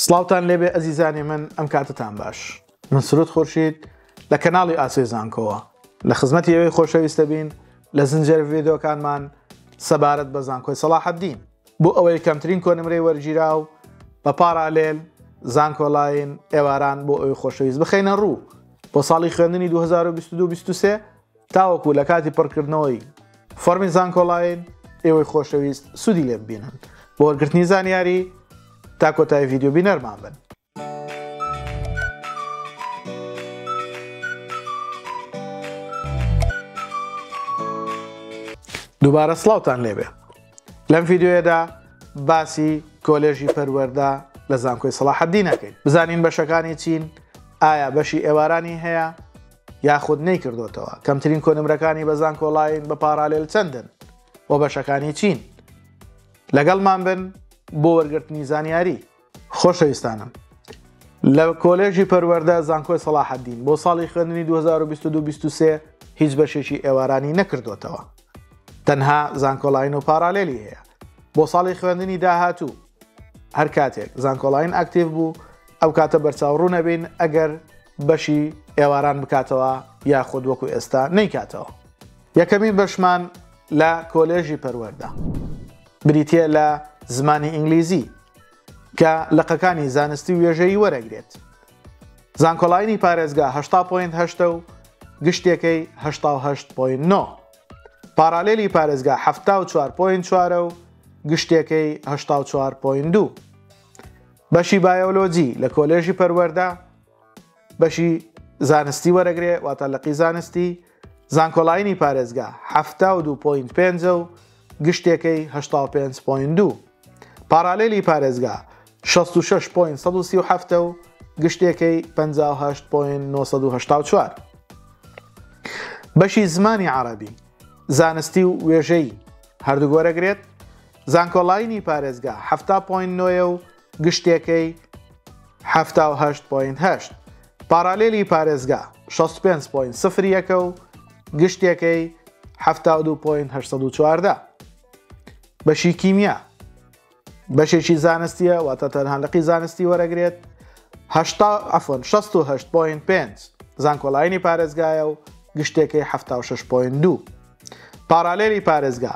سڵاوتان لێبێ ئەزیزانی من ئەم کاتتان باش من سرود خورشید لە کەناڵی ئاسێ زانکۆوە لە خزمەتی ئەوەی خۆشەویستە بین لە زنجێر ڤیدۆکانمان سەبارەت بە زانکۆی سەڵاحەدین بۆ ئەوەی کەمترین کۆنمرەی وەرگیرا و بە پاراالێل زانکۆلاین ئێواران بۆ ئەوی خۆشەویست بخینە ڕوو بۆ ساڵی خوێندنی 2022 23 تاوەکو لە کاتی پڕکردنەوەی فۆرمی زانکۆڵاین ئێوەی خۆشەویست سوودی لێ ببینن بۆ وەرگرتنی زانیاری تا کۆتای ڤیددیو بینەرمان بن دووبارە سلااوان لێبێ لەم ڤیددیوەدا باسی کۆلێژی پەروەەردا لە زانکۆی سەڵاحەدینەکەین بزانین بەشەکانی چین ئایا بەشی ئێوارانی هەیە یاخود نەیکردۆتەوە کەمترین کۆنمرەکانی بە زانکۆڵاین بە پاڕالێل چەندن و بەشەکانی چین لەگەڵمان بن بۆ وەرگرتنی زانیاری خۆشەویستانم لە کۆلێژی پەروەەردە زانکۆی سەڵاحەدین بۆ ساڵی خوێندنی 2022 هیچ بەشێکی ئێوارانی نەکردوتەوە تەنها زانکۆلاین و پارالێلی هەیە بۆ ساڵی خوێندنی داهاتوو هەر کاتێک زانکۆلاین ئاکتیڤ بوو ئەو کاتە بەرچاو ڕوو نەبین ئەگەر بەشی ئێواران بکاتەوە یاخود وەکو ئێستا نەیکاتەوە یەکەمین بەشمان لە کۆلێژی پەروەەردە بریتە لە زمانی ئینگلیزی کە لەقەکانی زانستی وێژەی وەرەگرێت زانکۆلاینی پارێزگا هشتا پوین هشتا و گشتێکەی هشتا هشت پوین نۆ پارالێلی پارێزگا هەفتا و چوار پوین چوارە و گشتێکەی هشتا و چوار پوین دوو بەشی بایۆلۆجی لە کۆلێژی پەروەەردە بەشی زانستی وەرەگرێ واتە لەقی زانستی زانکۆلاینی پارێزگا هەفتا و دو پوین پێنجە و گشتێکەی هشتا و پێنج پوین دوو پارالێلی پارێزگا 66 پوین 1970 و گشتێکەی 58 پوین 1994 بەشی زمانی عربی زانستی و وێژەی هەردوو گۆرەگرێت زانکۆلاینی پارێزگا حەفتا پۆینت نۆیە و گشتێکەی حەفتا و هەشت پۆینت هەشت. پاڕالێلی پارێزگا شەست و پێنج پۆینت سفر یەکە و گشتێکەی حەفتا و دوو پۆینت هەشت سەد و چواردە. بەشی کیمیا بەشێکی زانستیە واتە تەنها لقی زانستی وەرەگرێت هەشتا عفۆن 16 پۆین پێنج زانکۆلاینی پارێزگایە و گشتێکی 6 پۆین دوو پارالێلی پارێزگا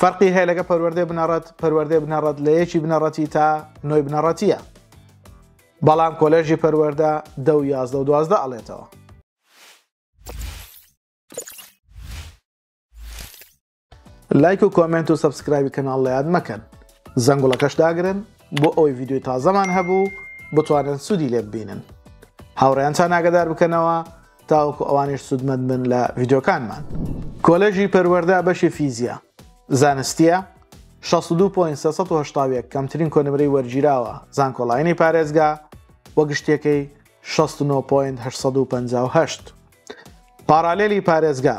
فەرقی هەیە لەگە پەروەردەی بنەڕەت پەروەردەی بنەڕەت لە یەکی بنەڕەتی تا نۆی بنەڕەتیە بەڵام کۆلێژی پەروەەردە دە و یازدە و دوازدە ئەڵێتەوە لایک و کۆمنت و سبسکرایبی کەناڵ لە یاد مەکەن زەنگوڵەکەش داگرن بۆ ئەوی یددیوی تازەمان هەبوو بتوانن سوودی لێ ببینن هاوڕێیانتان ناگەدار بکەنەوە تاوەکو ئەوانیش سوودمەند بن لە ڤیدۆکانمان کۆلێژی پەروەەردە بەشی فیزیا زانستیە 16.3 کەمترین کۆنمرەی وەرگیراوە زانکۆڵینی پارێزگا وە گشتەکەی 16.858 پارالێلی پارێزگا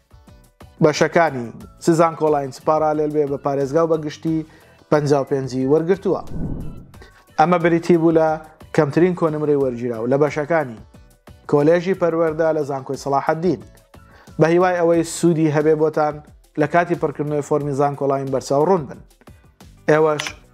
بەشەکانی، چ زانکۆڵاین چ پاڕالێل بێ بە پارێزگا و بە گشتی پەنجا و پێنج ی وەرگرتووە. ئەمە بریتی بوو لە کەمترین کۆنمرەی وەرگیراو لە بەشەکانی، کۆلێژی پەروەردە لە زانکۆی سەڵاحەدین. بە هیوای ئەوەی سوودی هەبێ بۆتان لە کاتی پڕکردنەوەی فۆرمی زانکۆڵاین بەرچاو ڕوون بن. ئێوەش